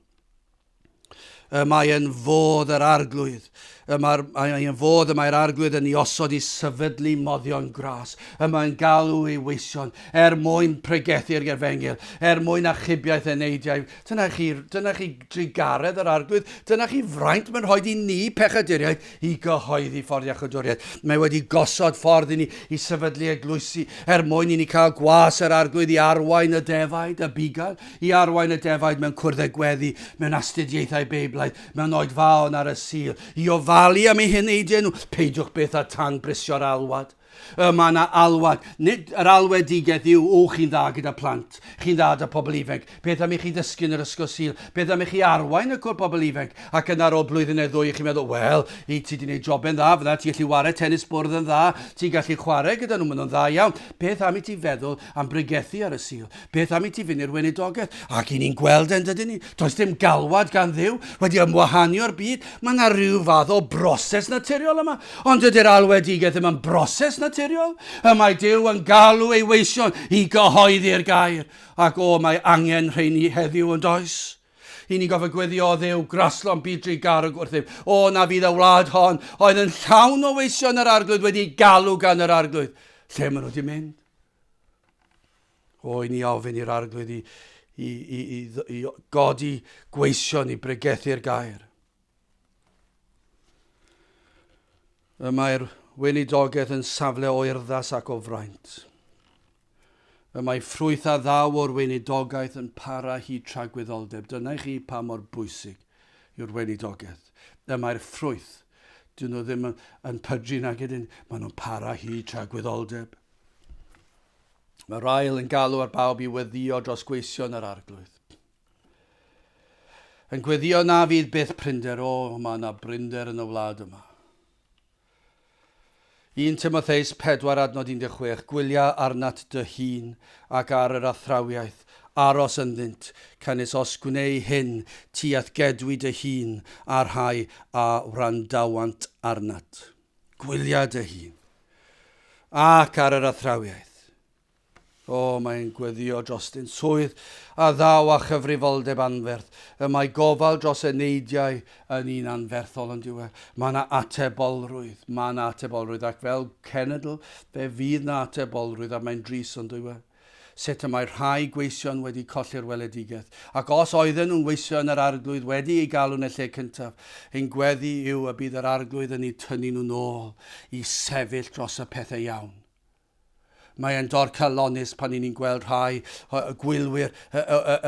Y mae yn fodd yr arglwydd Y mae'r mae yn fod y mae'r arglwydd yn ei osod i sefydlu moddion gras. Y mae'n galw ei weision er mwyn pregethu'r gefengil, er mwyn achubiaeth eneidiau. Dyna chi, dyna chi drugaredd yr arglwydd, dyna chi fraint mae'n rhoi i ni pechaduriaid i gyhoeddi ffordd iachydwriaeth. Mae wedi gosod ffordd i ni i sefydlu eglwysi er mwyn i ni cael gwas yr arglwydd i arwain y defaid, y bugail, i arwain y defaid mewn cwrdd a gweddi, mewn astudiaethau Beiblaidd, Mae'n oed dda o nar y Sul i ofalu am ei heneidiau nhw. Peidiwch byth â tan brisio'r alwad. Y mae yna alwad. Nid yr alwedigaeth yw, o, chi'n dda gyda phlant. Chi'n dda da pobl ifainc. Beth am i chi ddysgu yn yr Ysgol Sul? Beth am i chi arwain y cwr pobl ifainc? Ac yna ar ôl blwyddyn neu ddwy, chi'n meddwl, Wel, i ti di wneud joben dda fyna, ti'n gallu ware tenis bwrdd yn dda, ti'n gallu chwarae gyda nhw, maen nhw'n dda iawn. Beth am i ti feddwl am bregethu ar y Sul. Beth am i ti fynd i'r weinidogaeth? Ac i ni'n gweld e'n dydyn ni. Does dim galwad gan ddiw wedi ymwahanio'r byd. Mae yna rhyw fath o broses naturiol yma. Ond dydy'r alwedigaeth ddim yn broses naturiol. Y mae Dyw yn galw ei weision i gyhoeddi'r gair. Ac o, mae angen rheini heddiw yn does? i ni gofio gweddio o ddew graslon bydru garwg wrthyf. O na fydd y wlad hon, oedd yn llawn o weision yr arglwydd wedi galw gan yr arglwydd. Lle maen nhw wedi mynd? O, i ni ofyn i'r arglwydd i, i, i, i, i godi gweision i bregethu'r gair. Y mae'r weinidogaeth yn safle o urddas ac o fraint. Y mae ffrwyth a ddaw o'r weinidogaeth yn para hi tragwyddoldeb. Dyna i chi pa mor bwysig yw'r weinidogaeth. Y mae'r ffrwyth Dyn nhw ddim yn pydru nag ydyn, maen nhw'n para hyd tra gwyddoldeb. Mae'r ail yn galw ar bawb i weddio dros gweision yr arglwydd. Yn gweddio na fydd byth prinder, o, mae yna brinder yn y wlad yma. Un Timotheus 4 adnod 16, Gwylia arnat dy hun, ac ar yr athrawiaeth, aros ynddynt, canys os gwneu hyn, ti a'th gedwi dy hun, a'r rhai a wrandawant arnat. Gwylia dy hun, ac ar yr athrawiaeth. O, mae'n gweddïo dros ein swydd a ddaw â chyfrifoldeb anferth. Y mae gofal dros y neidiau yn un anferthol, yn dyw e? Mae yna atebolrwydd, mae yna atebolrwydd, ac fel cenedl, fe fydd yna atebolrwydd, a mae'n drist, yn dyw e? Sut y mae rhai gweision wedi colli'r weledigaeth, ac os oedden nhw'n weithio yn yr Arglwydd wedi ei galw yn y lle cyntaf, ein gweddi yw y bydd yr Arglwydd yn eu tynnu nhw'n ôl i sefyll dros y pethau iawn. Mae e'n dorcalonnus pan i ni'n gweld rhai o gwylwyr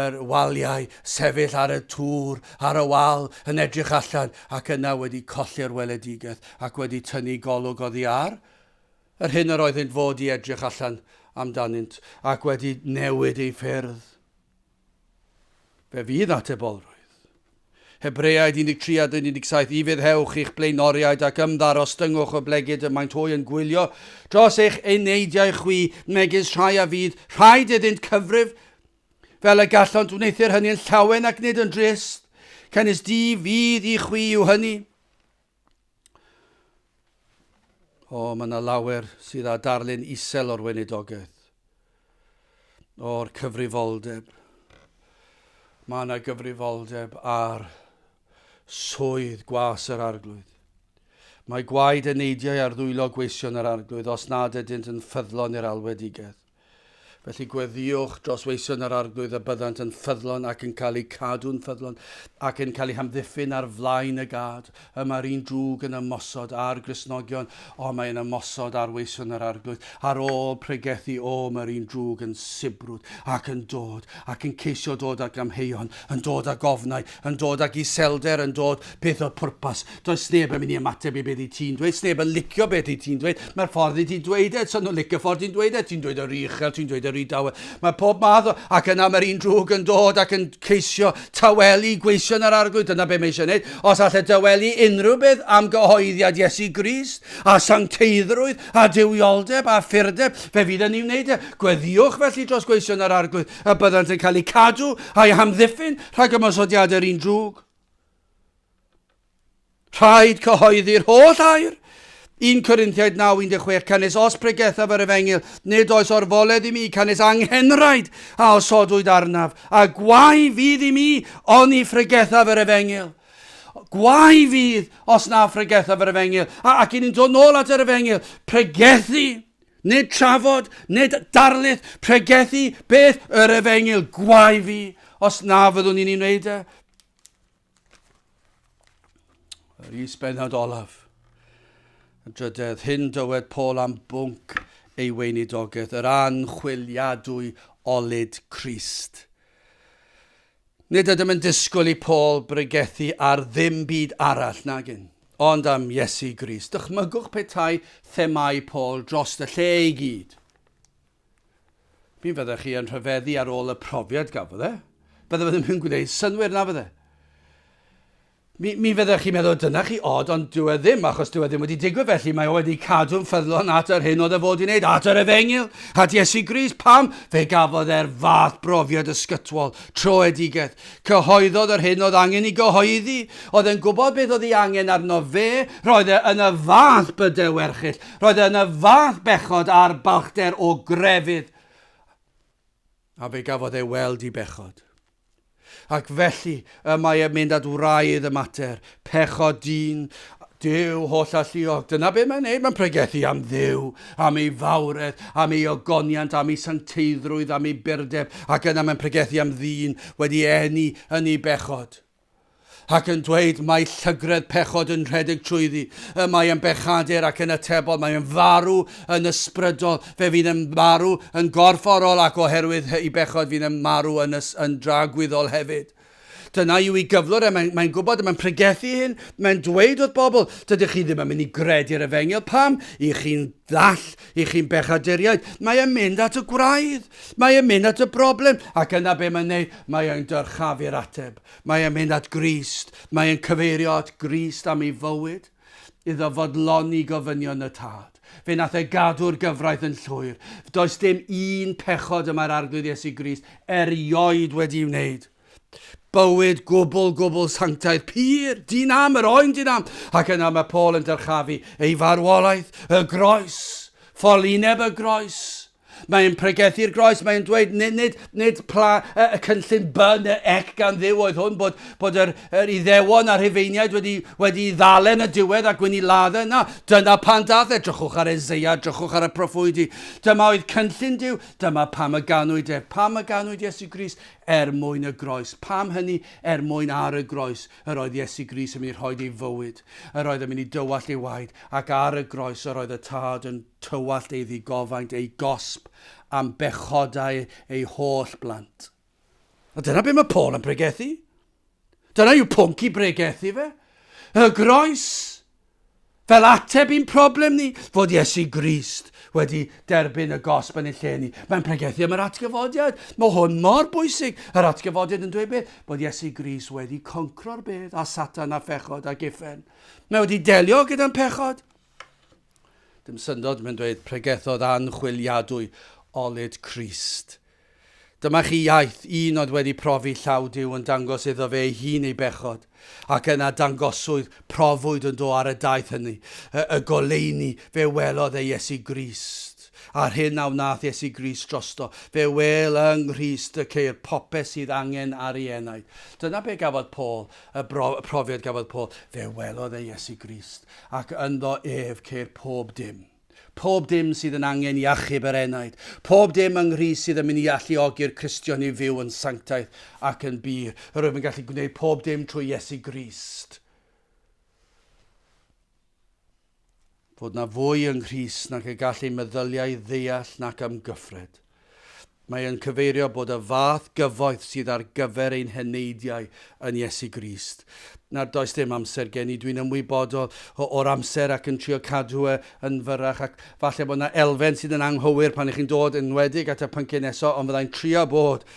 yr waliau sefyll ar y tŵr, ar y wal, yn edrych allan ac yna wedi colli'r weledigaeth ac wedi tynnu golwg oddi ar yr hyn yr oeddynt fod i edrych allan amdanynt ac wedi newid eu ffyrdd. Fe fydd atebolrwydd. Hebreaid 13 a 17 I Foddhewch eich blaenoriaid ac ymddaros Dyngwch y blegid y maent hwy yn gwylio dros eich eneidiau chwi, megis rhai a fydd rhaid iddynt cyfrif, fel y gallont wneuthur hynny yn llawen ac nid yn drist, canys di fydd i chwi yw hynny. O, mae yna lawer sydd â darlun isel o'r weinidogaeth, o'r cyfrifoldeb. Mae yna gyfrifoldeb ar swydd gwas yr arglwydd. Mae gwaed y neidiau ar ddwylo gweision yr arglwydd os nad ydynt yn ffyddlon i'r alwedigaeth. Felly gweddïwch dros weision yr Arglwydd y byddant yn ffyddlon ac yn cael eu cadw'n ffyddlon, ac yn cael eu hamddiffyn ar flaen y gad. Y mae'r un drwg yn ymosod ar Gristnogion, ond mae'n ymosod ar weision yr Arglwydd. Ar ôl pregethu, o, mae'r un drwg yn sibrwd, ac yn dod, ac yn ceisio dod ag amheuon, yn dod ag ofnau, yn dod ag iselder yn dod, peth o pwrpas. Does neb yn mynd i ymateb i beth i ti'n dweud, neb yn licio beth i ti'n dweud. Mae'r ffordd i ti'n dweud e, so nhw'n licio ffordd i'n dweud e, ti'n dweud yr uchel, ti'n dweud yr idawe. Mae pob math o, ac yna mae'r un drwg yn dod ac yn ceisio tawelu gweision yr arglwydd, dyna beth mae eisiau gwneud. Os allai dawelu unrhyw beth am gyhoeddiad Iesu Grist, a sancteiddrwydd, a dywioldeb, a ffyrdeb, fe fydd yn ei wneud e. Gweddiwch felly dros gweision yr arglwydd, y byddant yn cael eu cadw a'u hamddiffyn rhag ymosodiadau'r un drwg. Rhaid cyhoeddi'r holl air 1 Corinthiaid 9:16 Canys os pregethaf yr efengyl, nid oes orfoledd i mi, canys anghenraid a osodwyd arnaf, a gwau fydd i mi oni phregethaf yr efengyl. Gwau fydd os na phregethaf yr efengyl. A, ac i ni'n dod nôl at yr efengyl, pregethu Nid trafod, nid darlith, pregethu beth yr efengyl gwae fi, os na fyddwn ni'n ei wneud e. Yr isbennod olaf. Y drydedd hyn dywed Paul am bwnc ei weinidogaeth, yr anchwiliadwy olyd Christ. Nid ydym yn disgwyl i Paul bregethu ar ddim byd arall nagyn, ond am Iesu Grist. Dychmygwch petai themâu Paul dros y lle i gyd. Mi fyddech chi yn rhyfeddu ar ôl y profiad gafodd e. Bydde fe ddim yn gwneud synwyr na fydde? Mi, mi fyddech chi'n meddwl dyna chi od, ond dyw e ddim, achos dyw e ddim wedi digwydd felly, mae o wedi cadw'n ffyddlon at yr hyn oedd e fod i wneud, at yr efengyl, at Iesu Grist. Pam? Fe gafodd e'r fath brofiad ysgytwol, troedigeth. Cyhoeddodd yr hyn oedd angen i gyhoeddi. Oedd e'n gwybod beth oedd ei angen arno fe. Roedd e yn y fath bydau werchyll. Roedd e yn y fath bechod a'r balchder o grefydd. A fe gafodd ei weld i bechod. Ac felly, y mae e'n mynd at wraidd y mater, pechod dyn, Duw holl alluog, dyna be mae'n neud, mae'n pregethu am Dduw, am ei fawredd, am ei ogoniant, am ei sancteiddrwydd, am ei burdeb, ac yna mae'n pregethu am ddyn wedi eni yn ei bechod. ac yn dweud, Mae llygredd pechod yn rhedeg trwyddi, y mae yn bechadur ac yn atebol, mae yn farw yn ysbrydol, fe fydd yn marw yn gorfforol ac oherwydd i bechod fydd yn marw yn, ys, yn dragwyddol hefyd. Dyna yw i gyflwr e, mae'n mae gwybod, mae'n pregethu hyn, mae'n dweud wrth bobl, dydych chi ddim yn mynd i gredu'r efengil, pam? I chi'n ddall, i chi'n bechaduriaid, mae e'n mynd at y gwraidd, mae e'n mynd at y broblem, ac yna be mae'n neud, mae e'n dyrchafu'r ateb. Mae e'n mynd at Grist, mae e'n cyfeirio at Grist am ei fywyd, iddo fodloni gofynion y Tad. Fe wnaeth e gadw'r gyfraith yn llwyr. Does dim un pechod y mae'r Arglwydd Iesu Grist erioed wedi'i wneud. Bywyd gwbl, gwbl sanctaidd, pur, di-nam, yr oen di-nam. Ac yna mae Paul yn dyrchafu ei farwolaeth, y groes, ffolineb y groes. Mae e'n pregethu'r groes, mae e'n dweud nid, nid, nid pla y, y cynllun by neu ec gan ddiw oedd hwn, bod, bod yr, yr iddewon a'r rhufeiniaid wedi, wedi ddalen yn y diwedd a gwyn i ladde. Na, dyna pan dath e, drychwch ar Ezeia, drychwch ar y proffwydi. Dyma oedd cynllun diw, dyma pam y ganwyd e, pam y ganwyd Iesu Gris, er mwyn y groes. Pam hynny, er mwyn ar y groes. Yr oedd Iesu Grist yn mynd i rhoid ei fywyd, yr oedd yn mynd i dywallt ei waed, ac ar y groes yr oedd y Tad yn tywallt ei ddigofaint, ei gosb, am bechodau ei holl blant. A dyna be mae Paul yn pregethu. Dyna yw pwnc i bregethu fe. Y groes! Fel ateb i'n problem ni, fod Iesu Grist wedi derbyn y gosb yn ei lle ni. Mae'n pregethu am yr atgyfodiad. Mae hwn mor bwysig. Yr atgyfodiad yn dweud beth? Bod Iesu Grist wedi concro'r bedd a Satan a phechod a giffen. Mae wedi delio gyda'n pechod. Dim syndod, mae'n dweud, pregethodd anchwiliadwy olyd Crist Dyma chi iaith, un oedd wedi profi llaw Duw yn dangos iddo fe ei hun ei bechod, ac yna dangoswyd, profwyd ynddo ar y daith hynny, y, y goleuni, fe welodd e Iesu Grist, a'r hyn a wnaeth Iesu Grist drosto, fe wel yng Nghrist y ceir popeth sydd angen ar ei enaid. Dyna be gafodd Paul, y, bro, y profiad gafodd Paul, fe welodd e Iesu Grist, ac ynddo ef ceir pob dim. Pob dim sydd yn angen i achub yr enaid. Pob dim yng Nghrist sydd yn mynd i alluogi'r Cristion i fyw yn sanctaidd ac yn bur. Yr wyf yn gallu gwneud pob dim trwy Iesu Grist. Fod na fwy yng Nghrist nag y gall ei meddyliau ddeall nac amgyffred. Mae yn cyfeirio bod y fath gyfoeth sydd ar gyfer ein heneidiau yn Iesu Grist. Nad oes dim amser gen i, dwi'n ymwybodol o, o'r amser ac yn trio cadw e yn fyrrach ac falle bod yna elfen sydd yn anghywir pan ych chi'n dod yn enwedig at y pynciau nesaf ond fyddai'n trio bod,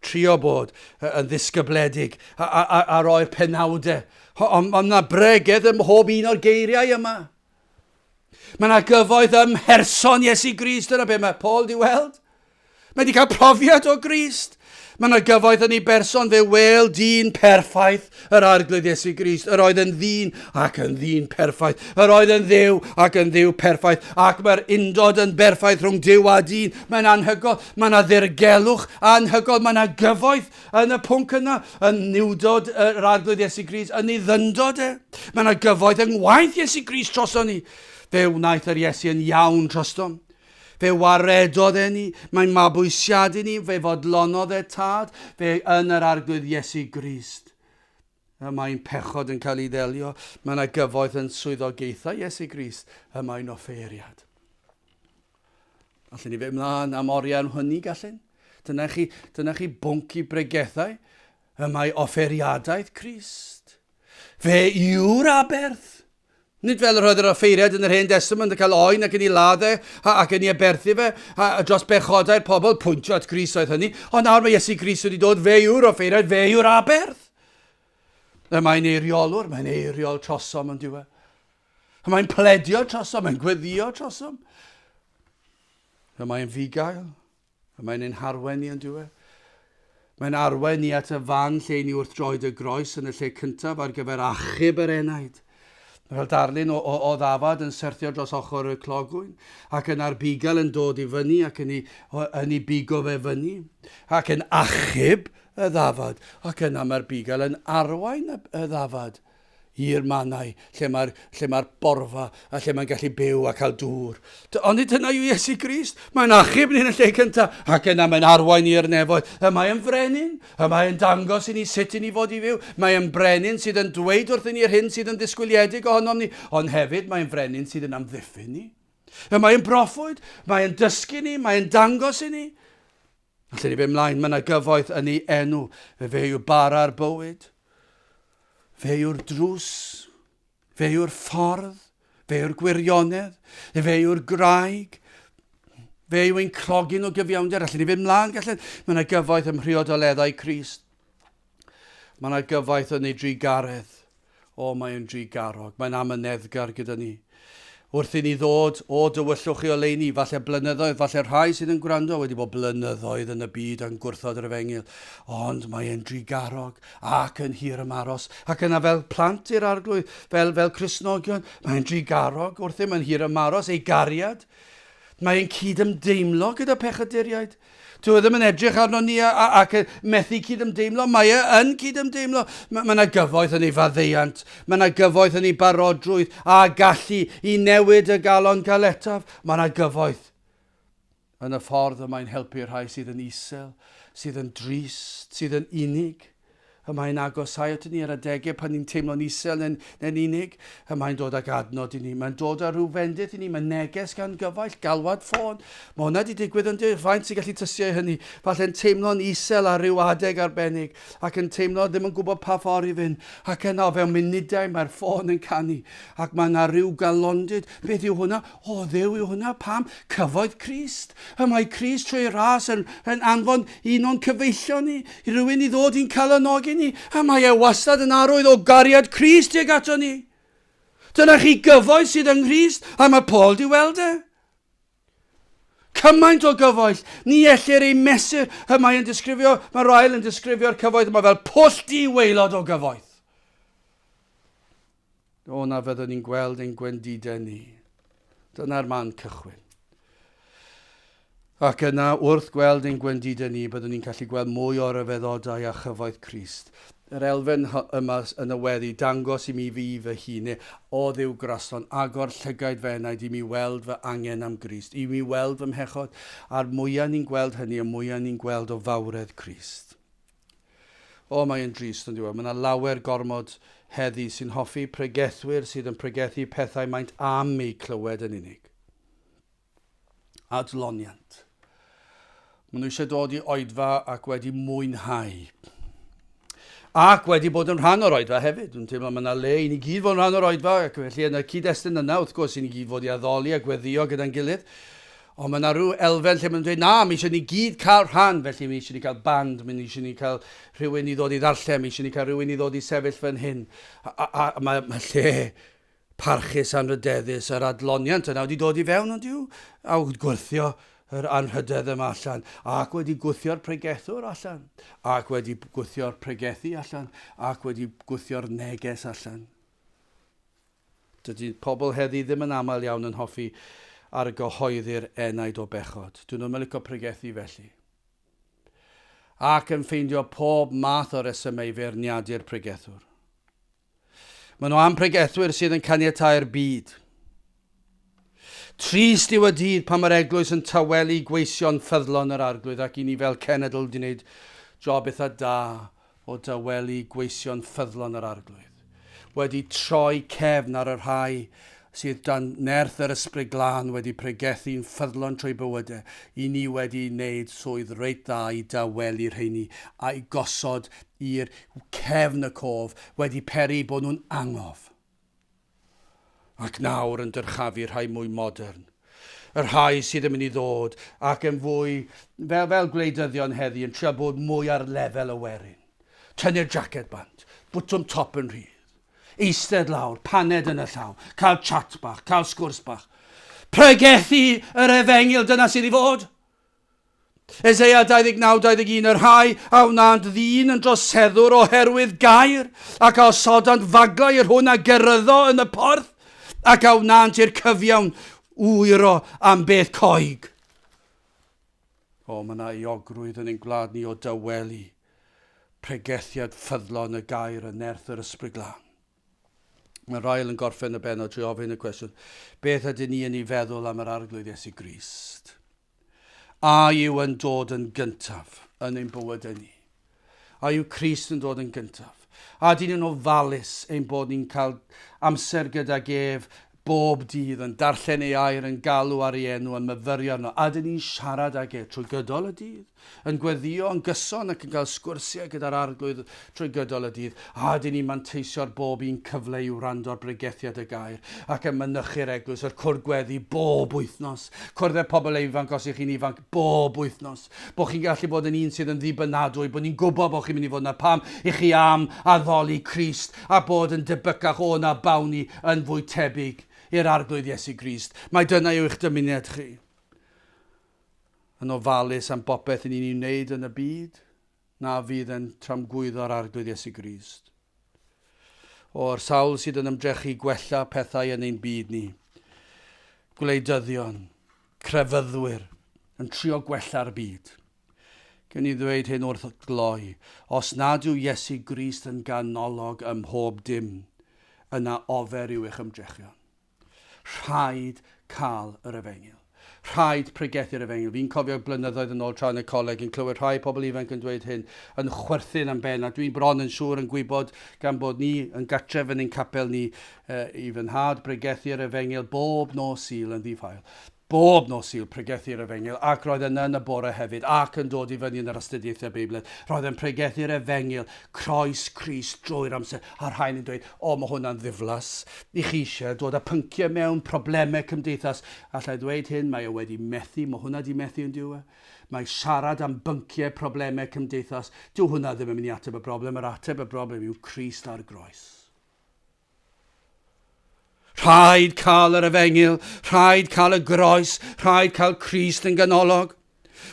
trio bod yn ddisgybledig a, a, a, a roi'r penawdau. Ond mae yna bregeth ym mhob un o'r geiriau yma. Mae yna gyfoeth ym mherson Iesu Grist, dyna be mae Paul di weld. Mae wedi cael profiad o Grist. Mae yna gyfoeth yn ei berson fe weld dyn perffaith, yr arglwydd Iesu Grist, yr oedd yn ddyn ac yn ddyn perffaith, yr oedd yn ddew ac yn ddew perffaith, ac mae'r undod yn berffaith rhwng dew a dyn. Mae'n anhygol, mae yna ddirgelwch anhygol, mae yna gyfoeth Yn y pwnc yna, yn niwdod yr Arglwydd Iesu Gris, yn ei ddyndod e. Mae yna gyfoeth yng ngwaith Iesu Gris troson ni. Fe wnaeth yr Iesu yn iawn trostom. Fe waredodd e ni, mae mabwysiadu ni, fe fodlonodd e tad, fe yn yr Arglwydd Iesu Grist. Y mae'n pechod yn cael ei ddelio, mae yna gyfoeth yn swyddogaethau Iesu Grist, y mae'n offeiriad. Allen ni fe mlaen am oriau am hynny, gallen? Dyna chi, dyna chi bwnc i bregethau. Y mae offeriadaeth Christ. Fe yw'r aberth. Nid fel yr oedd yr offeiriad yn yr hen testament yn cael oen ac yn ei ladd e, ac yn ei aberthu fe, a, a dros bechodau'r pobl, pwyntio at Gris oedd hynny, ond nawr mae Iesu Gris wedi dod, fe yw'r offeiriad, fe yw'r aberth. Y mae'n eiriolwr, mae'n eiriol trosom yn diwedd. A mae'n pledio trosom, mae'n gweddio trosom. A mae'n fugail, a mae'n ein harwen ni yn diwedd. Mae'n arwen ni at y fan lle ni wrth droed y groes yn y lle cyntaf ar gyfer achub yr enaid. Mae fel darlun o, o, o ddafad yn syrthio dros ochr y clogwyn, ac yna'r bugail yn dod i fyny ac yn ei, yn ei bigo fe fyny, ac yn achub y ddafad, ac yna mae'r bugail yn arwain y, y ddafad. i'r mannau lle mae'r lle mae'r borfa a lle mae'n gallu byw a cael dŵr. Ond nid dyna yw Iesu Grist. Mae'n achub ni'n y lle cyntaf, ac yna mae'n arwain ni i'r nefoedd. Y mae yn frenin, y mae yn dangos i ni sut i ni fod i fyw. Mae yn brenin sydd yn dweud wrthyn ni yr hyn sydd yn ddisgwyliedig ohonom ni, ond hefyd mae'n frenin sydd yn amddiffyn ni. Y mae yn broffwyd, mae'n dysgu ni, mae'n dangos i ni. Allen i fyn mlaen, mae na gyfoeth yn ei enw. Fe fe yw bara'r bywyd. Fe yw'r drws. Fe yw'r ffordd. Fe yw'r gwirionedd. Fe yw'r graig. Fe yw ein clogi nhw gyfiawnder. Allen i fyn mlaen, gallen. Mae na gyfoeth ym mhriodoleddau Crist. Mae yna gyfaith yn ei drugaredd. O, mae yn drugarog. Mae'n amyneddgar gyda ni. Wrth i ni ddod, o, dywyllwch chi oleuni, falle blynyddoedd, falle rhai sydd yn gwrando wedi bod blynyddoedd yn y byd yn gwrthod yr efengyl, ond mae e'n drugarog ac yn hir ymaros. Ac yna fel plant i'r arglwydd, fel, fel Crisnogion, mae'n drugarog wrthym yn hir ymaros ei gariad. Mae'n cydymdeimlo gyda pechaduriaid. Dyw e ddim yn edrych arnon ni ac yn methu cydymdeimlo. Mae e yn cydymdeimlo. Mae yna gyfoeth yn ei faddeuant. Mae yna gyfoeth yn ei barodrwydd a gallu i newid y galon galetaf. Mae yna gyfoeth yn y ffordd y mae'n helpu'r rhai sydd yn isel, sydd yn drist, sydd yn unig. Y mae'n agosáu aton ni ar adegau pan ni'n teimlo'n isel neu'n neu'n unig. Y mae'n dod ag adnod i ni. Mae'n dod â rhyw fendith i ni. Mae neges gan gyfaill, galwad ffôn. Mae hwnna 'di digwydd yn dy faint sy'n gallu tystio i hynny. Falle'n teimlo'n isel ar ryw adeg arbennig ac yn teimlo ddim yn gwybod pa ffordd i fynd. Ac yna o fewn munudau mae'r ffôn yn canu ac mae 'na ryw galondid. Beth yw hwnna? O Dduw yw hwnna pam cyfoeth Crist. Y mae Crist trwy ras yn, yn anfon un o'n cyfeillion ni, i rywun i ddod i'n calonogi ni, a mae e wastad yn arwydd o gariad Crist tuag ato ni. Dyna chi gyfoeth sydd yng Nghrist, a mae Paul di weld e. Cymaint o gyfoell, ni ellir ei mesur. Y mae yn disgrifio, mae Ryle yn disgrifio'r cyfoeth yma fel pwll di waelod o gyfoeth. O na fyddwn ni'n gweld ein gwendidau ni. Dyna'r man cychwyn. Ac yna, wrth gweld ein gwendidau ni, byddwn ni'n gallu gweld mwy o ryfeddodau a chyfoeth Crist. Yr elfen yma yn y weddi, dangos i mi fi fy hun, neu o ddiw graslon, agor llygaid fy enaid i mi weld fy angen am Grist, i mi weld fy mhechod, a'r mwyaf ni'n gweld hynny, y mwyaf ni'n gweld o fawredd Crist. O, mae e'n drist, on'd yw e? Mae 'na lawer gormod heddi sy'n hoffi pregethwyr sydd yn pregethu pethau maent am eu clywed yn unig. Adloniant. Maen nhw eisiau dod i oedfa ac wedi mwynhau. Ac wedi bod yn rhan o'r oedfa hefyd. Dwi'n teimlo mae yna le i ni gyd fod yn rhan o'r oedfa ac felly yn y cyd-destun yna, wrth gwrs, i ni gyd fod i addoli a gweddio gyda'n gilydd. Ond mae 'na ryw elfen lle maen nhw'n dweud, 'na, mae eisiau ni gyd cael rhan, felly mae eisiau ni cael band, mae eisiau ni cael rhywun i ddod i ddarllen, mae eisiau ni cael rhywun i ddod i sefyll fan hyn. A, a, a mae, mae lle parchus anrhydeddus yr adloniant yna wedi dod i fewn, ond yw, a wedi gwrthio yr anrhydedd yma allan, ac wedi gwthio'r pregethwr allan, ac wedi gwthio'r pregethu allan, ac wedi gwthio'r neges allan. Dydy pobl heddi ddim yn aml iawn yn hoffi argyhoeddi'r enaid o bechod. Dyn nhw'm yn licio pregethu felly. Ac yn ffeindio pob math o resymau i feirniadu'r pregethwr. Maen nhw am bregethwyr sydd yn caniatáu'r byd. Trist yw y dydd pan mae'r eglwys yn tawelu gweision ffyddlon yr Arglwydd ac i ni fel cenedl wedi wneud job eitha da o dawelu gweision ffyddlon yr Arglwydd, wedi troi cefn ar y rhai sydd dan nerth yr Ysbryd Glân wedi pregethu'n ffyddlon trwy bywydau, i ni wedi wneud swydd reit dda i dawelu rheini a'u gosod i'r cefn y cof, wedi peri bod nhw'n angof. Ac nawr yn dyrchafu rhai mwy modern, y rhai sydd yn mynd i ddod ac yn fwy, fel, fel gwleidyddion heddi, yn trio bod mwy ar lefel y werin. Tynnu'r jaced bant, bwtwm top yn rhydd, eistedd lawr, paned yn y llaw, cael chat bach, cael sgwrs bach. Pregethu yr efengyl, dyna sydd i fod! Eseia 29-21 Yr rhai a wnânt ddyn yn droseddwr oherwydd gair, ac a osodant faglau i'r hwn a geryddo yn y porth, ac a wnânt i'r cyfiawn wyro am beth coeg. O, mae yna euogrwydd yn ein gwlad ni o dawelu pregethiad ffyddlon y gair yn nerth yr Ysbryd Glân. Mae Ryle yn gorffen y bennod trwy ofyn y cwestiwn, Beth ydyn ni yn ei feddwl am yr Arglwydd Iesu Grist? A yw yn dod yn gyntaf yn ein bywydau ni? A yw Crist yn dod yn gyntaf? A dyn ni'n ofalus ein bod ni'n cael amser gydag ef bob dydd, yn darllen ei air, yn galw ar ei enw, yn myfyrio arno, a 'dyn ni'n siarad ag e trwy gydol y dydd, yn gweddïo yn gyson ac yn cael sgwrsiau gyda'r Arglwydd trwy gydol y dydd, a 'dyn ni'n manteisio ar bob un cyfle i wrando ar bregethiad y Gair ac yn mynychu'r Eglwys, yr cwrdd gweddi, bob wythnos. Cwrdd â phobl ifanc os y'ch chi'n ifanc, bob wythnos. Bod chi'n gallu bod yn un sydd yn ddibynadwy, bod ni'n gwybod bod chi'n mynd i fod yna pam i chi am addoli Crist a bod yn debycach o na bawn ni yn fwy tebyg i'r Arglwydd Iesu Grist. Mai dyna yw eich dymuniad chi. Yn ofalus am bopeth i ni'n ei wneud yn y byd, na fydd e'n tramgwyddo'r Arglwydd Iesu Grist. O'r sawl sydd yn ymdrechu gwella pethau yn ein byd ni, gwleidyddion, crefyddwyr, yn trio gwella'r byd. Gen i ddweud hyn wrth gloi, os nad yw Iesu Grist yn ganolog ym mhob dim, yna ofer yw eich ymdrechion. Rhaid cael yr efengyl. Rhaid pregethu'r efengyl. Fi'n cofio blynyddoedd yn ôl tra yn y coleg yn clywed rhai pobl ifanc yn dweud hyn, yn chwerthin am ben, a dwi'n bron yn siŵr yn gwybod gan bod ni yn gartref yn ein capel ni uh, i fy nhad bregethu'r efengyl bob nos Sul yn ddifael. Bob nos Sul pregethu'r Efengyl, ac roedd yna yn y bore hefyd, ac yn dod i fyny yn yr astudiaethau Beibledd, roedd e'n pregethu'r Efengyl, Croes Crist drwy'r amser, a'r rhain yn dweud, O, mae hwnna'n ddiflas i chi eisiau dod â pynciau mewn, problemau cymdeithas. Alla i ddweud hyn, mae e wedi methu, mae hwnna wedi methu yn dyw e? Mae siarad am bynciau, problemau cymdeithas, dyw hwnna ddim yn mynd i ateb y broblem, yr ateb y broblem yw Crist a'r Groes. Rhaid cael yr efengyl, rhaid cael y groes, rhaid cael Crist yn ganolog.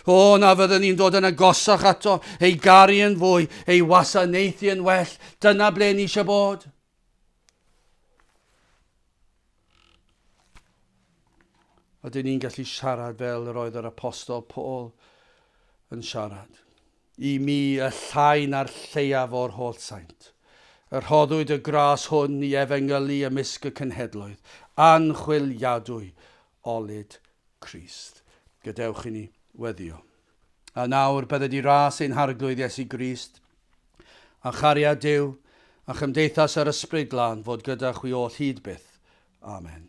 O, na fyddwn ni'n dod yn agosach ato, ei garu yn fwy, ei wasanaethu yn well. Dyna ble ni eisiau bod. Oedden ni'n gallu siarad fel yr oedd yr apostol Paul yn siarad. I mi y llai na'r lleiaf o'r holl saint. Y rhoddwyd y gras hwn i efengylu ymysg y cenhedloedd, anchwiliadwy olud Crist. Gadewch i ni weddio. A nawr, bydde di ras ein Harglwydd Iesu Grist, a chariad Duw, a chymdeithas yr Ysbryd Glân fod gyda chwi oll hyd byth. Amen.